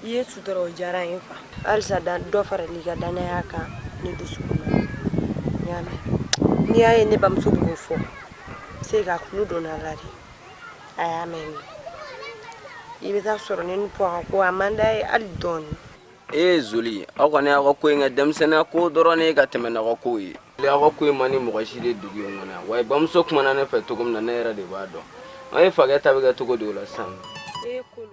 i ye sutura o diyara ye fa halisa dan dɔ farala i ka danaya kan ne dusu y'a mɛn n'i y'a ye ne bamuso b'o fɔ se ka kulu donna a la de a y'a mɛn ne i bɛ taa sɔrɔ ne ni pɔ ka ko a man d'a ye hali dɔɔni ee joli aw kɔni aw ka ko in kɛ denmisɛnninya ko dɔrɔn ne ka tɛmɛ n'aw ka kow ye aw ka ko in man di mɔgɔ si ye dugu in kɔnɔ yan wa bamuso kumana ne fɛ cogo min na ne yɛrɛ de b'a dɔn an ye fakɛ ta bɛ kɛ cogo di o la sisan ee kolo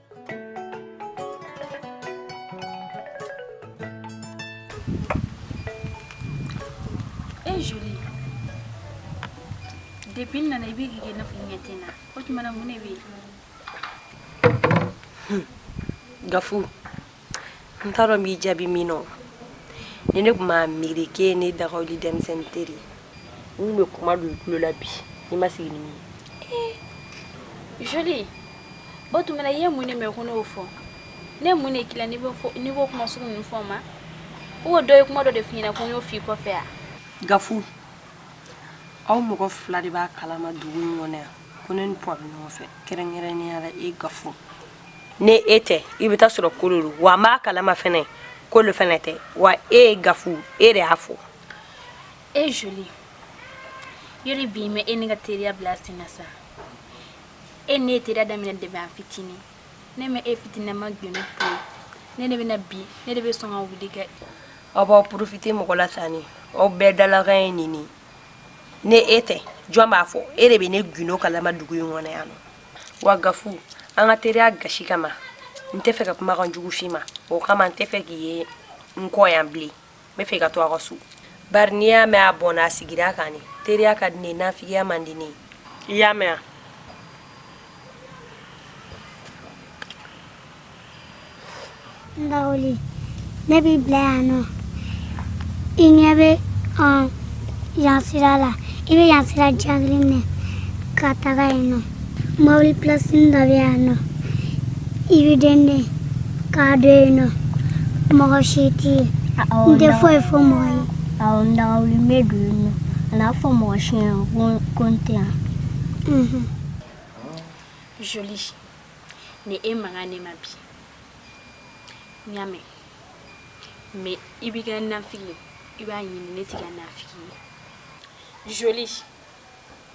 E joli depi n nana i bɛ k'i kɛ n'a fɔ i ɲɛ tɛ n na o tuma mun ne bɛ yen gafu n t'a dɔn n b'i jaabi min nɔ ni ne tun b'a miiri k'e ye ne dagawuli denmisɛnnin teri ye n tun bɛ kuma don i tulo la bi n'i ma sigi ni min ye joli o tuma na i ye mun de mɛn ko ne y'o fɔ ne mun de k'i la n'i b'o kuma sugu ninnu fɔ n ma o dɔ ye kuma dɔ de f'i ɲɛna ko n y'o f'i kɔfɛ yan gafu aw mɔgɔ fila de b'a kalama dugu in kɔnɔ yan ko ne ni pɔ bɛ ɲɔgɔn fɛ kɛrɛnkɛrɛnnenya la e gafu ne e tɛ i bɛ taa sɔrɔ kolo wa an b'a kalama fana kolo fana tɛ wa e ye gafu e de y'a fɔ e joli yɔrɔ bi mɛ e ne ka teriya bila sen sa e ne teri daminɛ depi an fitinin ne mɛ e fitinina ma gundo pe ne de bɛna bi ne de bɛ sɔn ka wuli kɛ aw b'aw porofite mɔgɔ la tan ni aw bɛɛ dalakan ye nin ne e tɛ jɔn b'a fɔ e de bɛ ne gundo kalama dugu in kɔnɔ yan wa gafu an ka teriya gasi kama n tɛ fɛ ka kuma kan jugu f'i ma o kama n tɛ fɛ k'i ye n kɔ yan bilen n bɛ fɛ ka to a ka so bari n'i y'a mɛn a bɔnna a sigira a kan ne teriya ka di ne ye nafigiya man di ne ye i y'a mɛn wa N dawuli ne b'i bila yan nɔ i ɲɛ bɛ yan sira la i bɛ yan sira jan kelen minɛ ka taga yen nɔ mobili pilasini dɔ bɛ yan nɔ i bɛ denden ka don yen nɔ mɔgɔ si tɛ yen n tɛ foyi fɔ mɔgɔ ye awɔ n dawuli n bɛ don yen nɔ kan'a fɔ mɔgɔ si ɲɛna ko n tɛ yan joli ni e man kan ne ma bi n y'a mɛn mɛ i b'i ka nafigi ye i b'a ɲini ne t'i ka nafigi ye joli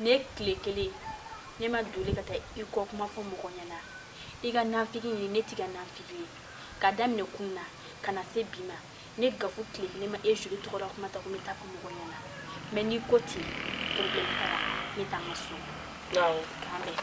ne tile kelen ne ma deli ka taa i kɔ kuma fɔ mɔgɔ ɲɛna i ka nafigi ɲini ne t'i ka nafigi ye ka daminɛ kunun na ka na se bi ma ne gafu tile kelen n ma e joli tɔgɔ la kuma ta ko n bɛ taa fɔ mɔgɔ ɲɛna mɛ n'i ko ten problème t'a la n bɛ t'an ka so awɔ k'an bɛn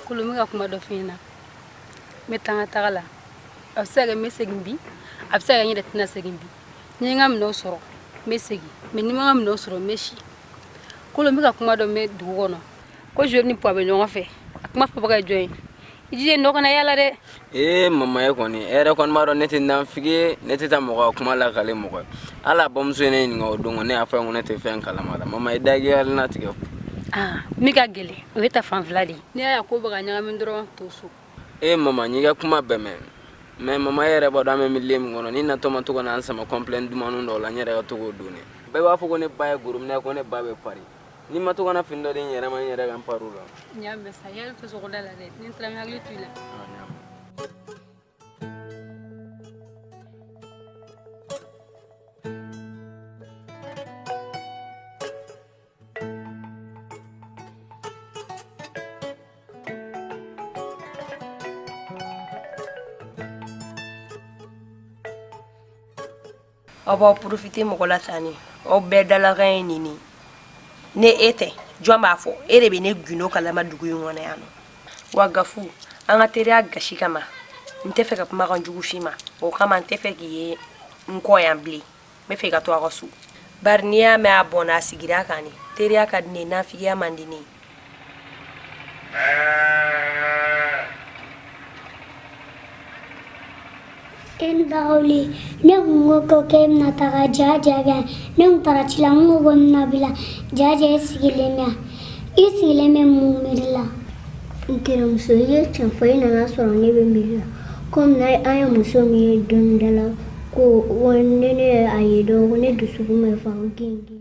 kolo n bɛ ka kuma dɔ f'i ɲɛna n bɛ taa n ka taga la a bɛ se ka kɛ n bɛ segin bi a bɛ se ka kɛ n yɛrɛ tɛna segin bi ni n ka minɛnw sɔrɔ n bɛ segin mɛ ni n ma n ka minɛnw sɔrɔ n bɛ si kolo n bɛ ka kuma dɔ mɛn dugu kɔnɔ ko joli ni puwa bɛ ɲɔgɔn fɛ a kuma fɔbaga ye jɔn ye i jija nɔ kana yala dɛ ee mama ye kɔni e yɛrɛ kɔni b'a dɔn ne tɛ nafigi ye ne tɛ taa mɔgɔ kuma lakale mɔgɔ ye ala bamuso ye ne ɲininka o don ne y'a fɔ ko ne tɛ fɛn kalama la mama i dagiyali na tigɛ aa min ka gɛlɛn o ye ta fanfila de ye ne y'a ko baga ɲagami dɔrɔn to so ee mama n y'i ka kuma bɛɛ mɛn mɛ mama e yɛrɛ b'a dɔn an bɛ miliye min kɔnɔ n'i natɔ ma to ka na an sama kɔnpilɛ dumanu dɔw la n yɛrɛ ka to k'o don ne bɛɛ b'a fɔ ko ne ba ye gorobinɛ ko ne ba bɛ pari n'i ma to ka na fini dɔ di n yɛrɛ ma n yɛrɛ ka n pari u la n y'a mɛn sa i hakili to sogoda la dɛ ni n taara n hakili to i la aw b'aw porofite mɔgɔ la tan ni aw bɛɛ dalakan ye nin nin ne e tɛ jɔn b'a fɔ e de bɛ ne gundo kalama dugu in kɔnɔ yan nɔ wa gafu an ka teriya gasi kama n tɛ fɛ ka kumakan jugu f'i ma o kama n tɛ fɛ k'i ye n kɔ yan bilen n bɛ fɛ i ka to a ka so bari n'i y'a mɛn a bɔnna a sigira a kan de teriya ka di ne ye nafigiya man di ne ye Baoli ne kun ko ko k'e bɛna taga ja ja i bɛ yan ne kun taara ci la n ko ko n bɛna b'i la ja ja i sigilen bɛ yan i sigilen bɛ mun miiri la n terimuso i ye tiɲɛ fɔ i nana sɔrɔ ne bɛ miiri la komi na an ye muso min ye dɔnnidala ko ne ne a ye dɔn ko ne dusukun bɛ pan ko genge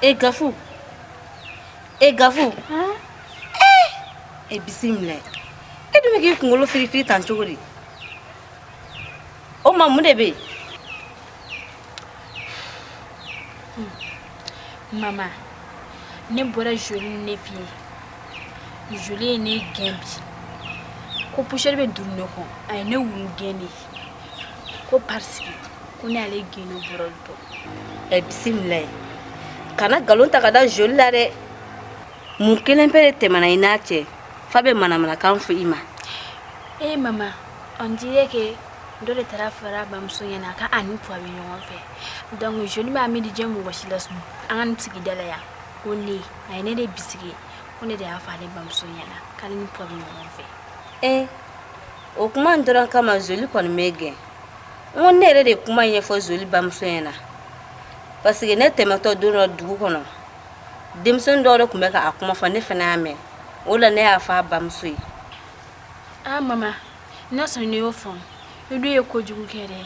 e gafu e gafu e bisimila e dun bɛ k'i kunkolo firifiri tan cogo di o ma mun de bɛ yen mama ne bɔra joli ninnu fɛ yen joli ye ne gɛn bi ko pusɛri bɛ duuru ne kɔ a ye ne wulu gɛn de ye ko paseke ko ne y'ale geni bɔrɔ dɔn ɛ bisimila e kana nkalon ta ka da joli la dɛ mun kelen pe de tɛmɛna i n'a cɛ f'a bɛ manamanakan fɔ i ma ee mama on dirait que dɔ de taara a fɔ a bamuso ɲɛna k'a ni puwa bɛ ɲɔgɔn fɛ donc joli m'a miiri diɲɛ mɔgɔ si la sun an ka nin sigida la yan ko ne a ye ne de bisigi ko ne de y'a fɔ ale bamuso ɲɛna k'ale ni puwa bɛ ɲɔgɔn fɛ ee o kuma in dɔrɔn kama zoli kɔni bɛ ne gɛn ko ne yɛrɛ de kuma ɲɛfɔ zoli bamuso ɲɛ na paseke ne tɛmɛtɔ don dɔ dugu kɔnɔ denmisɛnni dɔw de tun bɛ k'a kuma fɔ ne fana y'a mɛn o la ne y'a fɔ a bamuso ye a ah, mama n'a sɔrɔ ne y'o faamu i dun ye kojugu kɛ dɛ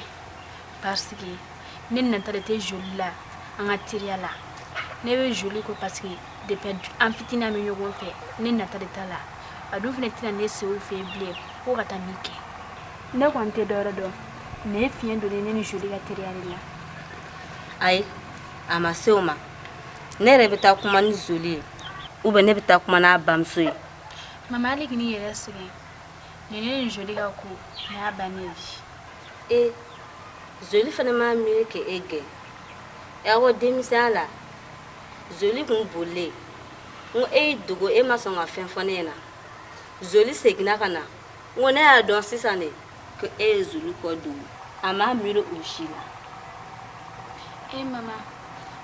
paseke ne nata de tɛ zoli la an ka teriya la ne bɛ zoli kɔ paseke de an fitinin bɛ ɲɔgɔn fɛ ne nata de t'a la a dun fana tɛna ne se fɛ bilen ko ka taa min kɛ ne kɔni tɛ dɔwɛrɛ dɔn ne fiɲɛ don ne ni joli ka teriya de la ayi a ma se o ma ne yɛrɛ bɛ taa kuma ni zoli ye ou bien ne bɛ taa kuma n'a bamuso ye mama e kan'i yɛrɛ sɛgɛn ne ne ni joli ka ko ne y'a bannen ye e joli fana m'a miiri k'e gɛn y'a ko denmisɛnya la joli kun bolilen n ko e y'i dogo e ma sɔn ka fɛn fɔ ne ɲɛna joli seginna ka na n ko ne y'a dɔn sisan de ko e ye joli ko dogo a m'a miiri o si la e eh, mama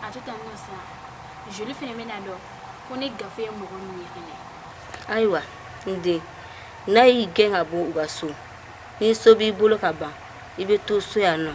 a to tan nɔ sa joli fɛnɛ bɛna dɔn ko ne gafe ye mɔgɔ min ye fɛnɛ ayiwa n den n'a y'i gɛn ka bɔ u ka so nin so b'i bolo ka ban i bɛ to so yan nɔ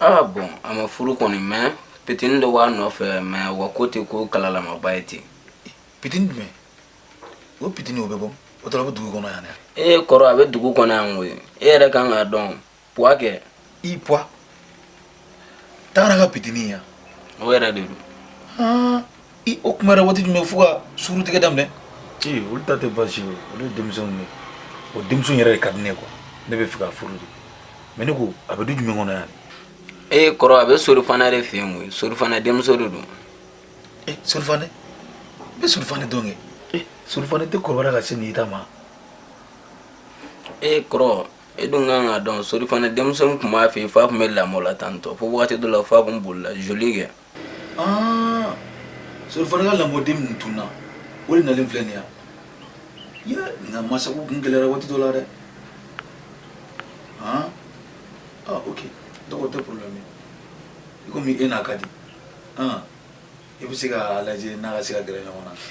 aa bɔn a ma furu kɔni mɛn pitini dɔ b'a nɔfɛ mɛ wa ko ten ko kalalamaba ye ten pitini jumɛn o pitini o bɛ bɔ o tɔrɔ bɛ dugu kɔnɔ yan dɛ e kɔrɔ a bɛ dugu kɔnɔ yan koyi e yɛrɛ kan k'a dɔn puwa kɛ i puwa tagara ka pitini yan o yɛrɛ de don i o kunbayara waati jumɛn fo ka sungurutigɛ daminɛ ee olu ta tɛ basi ye olu ye denmisɛnw ye o denmuso yɛrɛ de ka di ne ye kuwa ne b'a fɛ k'a furu de mɛ ne ko a bɛ du jumɛn kɔnɔ yan ee kɔrɔ a bɛ sori fane de fɛ yen koyi sori fane denmuso de don ee eh, sori fane n bɛ sori fane dɔn kɛ ee eh, sori fane tɛ kɔrɔbara ka se nin ta ma ee eh, kɔrɔ e dun kan k'a dɔn sori fane denmuso tun b'a fɛ yen f'a tun bɛ lamɔ la tantɔ fo wagati dɔ la f'a tun bolila joli kɛ Ah, sori fane ka lamɔden min tununna o de nalen filɛ nin yan ye nka masago kun gɛlɛyara waati dɔ la dɛ ah ah ok donc o tɛ problème ye komi e n'a ka di ah i bɛ se k'a lajɛ n'a ka se ka gɛrɛ ɲɔgɔn na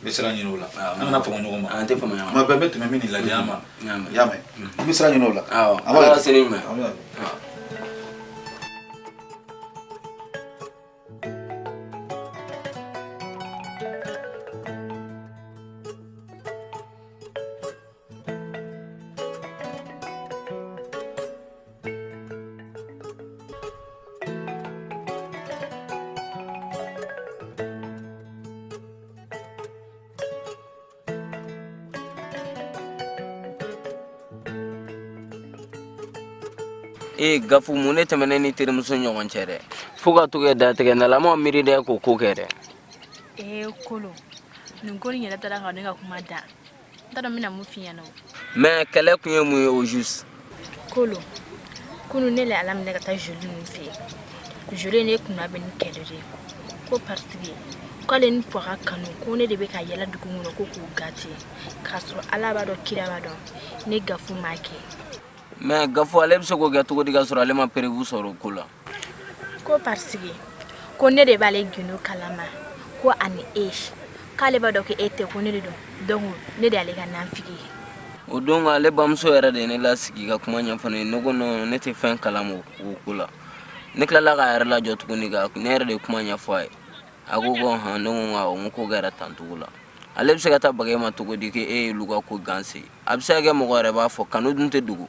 n bɛ sira ɲini o la an kana fama ɲɔgɔn ma an tɛ fama ɲɔgɔn ma tuma bɛɛ n bɛ tɛmɛ min ni lajɛ an ma i y'a mɛn n bɛ sira ɲini o la awɔ an b'a ala ka seli ɲuman e gafu mun ne tɛmɛnen ni terimuso ɲɔgɔn cɛ dɛ fo ka to kɛ datigɛ nalama miiri dɛ k'o ko kɛ dɛ ee kolo nin ko nin yɛrɛ taara ka ne ka kuma dan n t'a dɔn n bɛna mun f'i ɲɛna o mais kɛlɛ kun ye mun ye au juste kolo kunu ne le ala minɛ ka taa joli ninnu fɛ yen joli ne kunnabɛn ni kɛlɛ de ye ko parce que k'ale ni pɔ ka kanu ko ne de bɛ ka yaala dugu kɔnɔ ko k'u gate k'a sɔrɔ ala b'a dɔn kira b'a dɔn ne gafu m'a kɛ mais gafu ale bɛ se k'o kɛ cogo di ka sɔrɔ ale ma preuve sɔrɔ o ko la ko parce que ko ne de b'ale gundo kalama ko ani e k'ale b'a dɔn ko e tɛ ko ne de don donc ne de y'ale ka nanfigi ye o don ka ale bamuso yɛrɛ de ye ne lasigi ka kuma ɲɛfɔ ne ye ne ko non ne tɛ fɛn kalama o ko la ne tilala k'a yɛrɛ lajɔ tuguni ka ne yɛrɛ de ye kuma ɲɛfɔ a ye a ko ko hɔn ne ko awɔ n ko ko kɛra tan cogo la ale bɛ se ka taa baga e ma cogo di ko e y'olu ka ko gansi a bɛ se ka kɛ mɔgɔ yɛrɛ b'a fɔ kanu dun tɛ dogo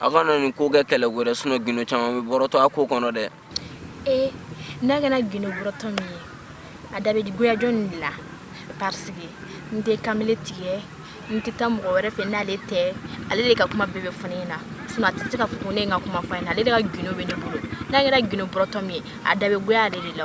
A kana nin ko kɛ kɛlɛ wɛrɛ sun gundo caman bɛ bɔrɔtɔ a ko kɔnɔ dɛ ee n'a kɛra gundo bɔrɔtɔ min ye a da bɛ goya jɔn de la parce que n tɛ kamalen tigɛ n tɛ taa mɔgɔ wɛrɛ fɛ n'ale tɛ ale de ka kuma bɛɛ bɛ fɔ i ɲɛna sisan a tɛ se ka f ne ka kuma fɔ i ɲɛna ale de ka gundo bɛ ne bolo n'a kɛra gundo bɔrɔtɔ min ye a da bɛ goya ale de la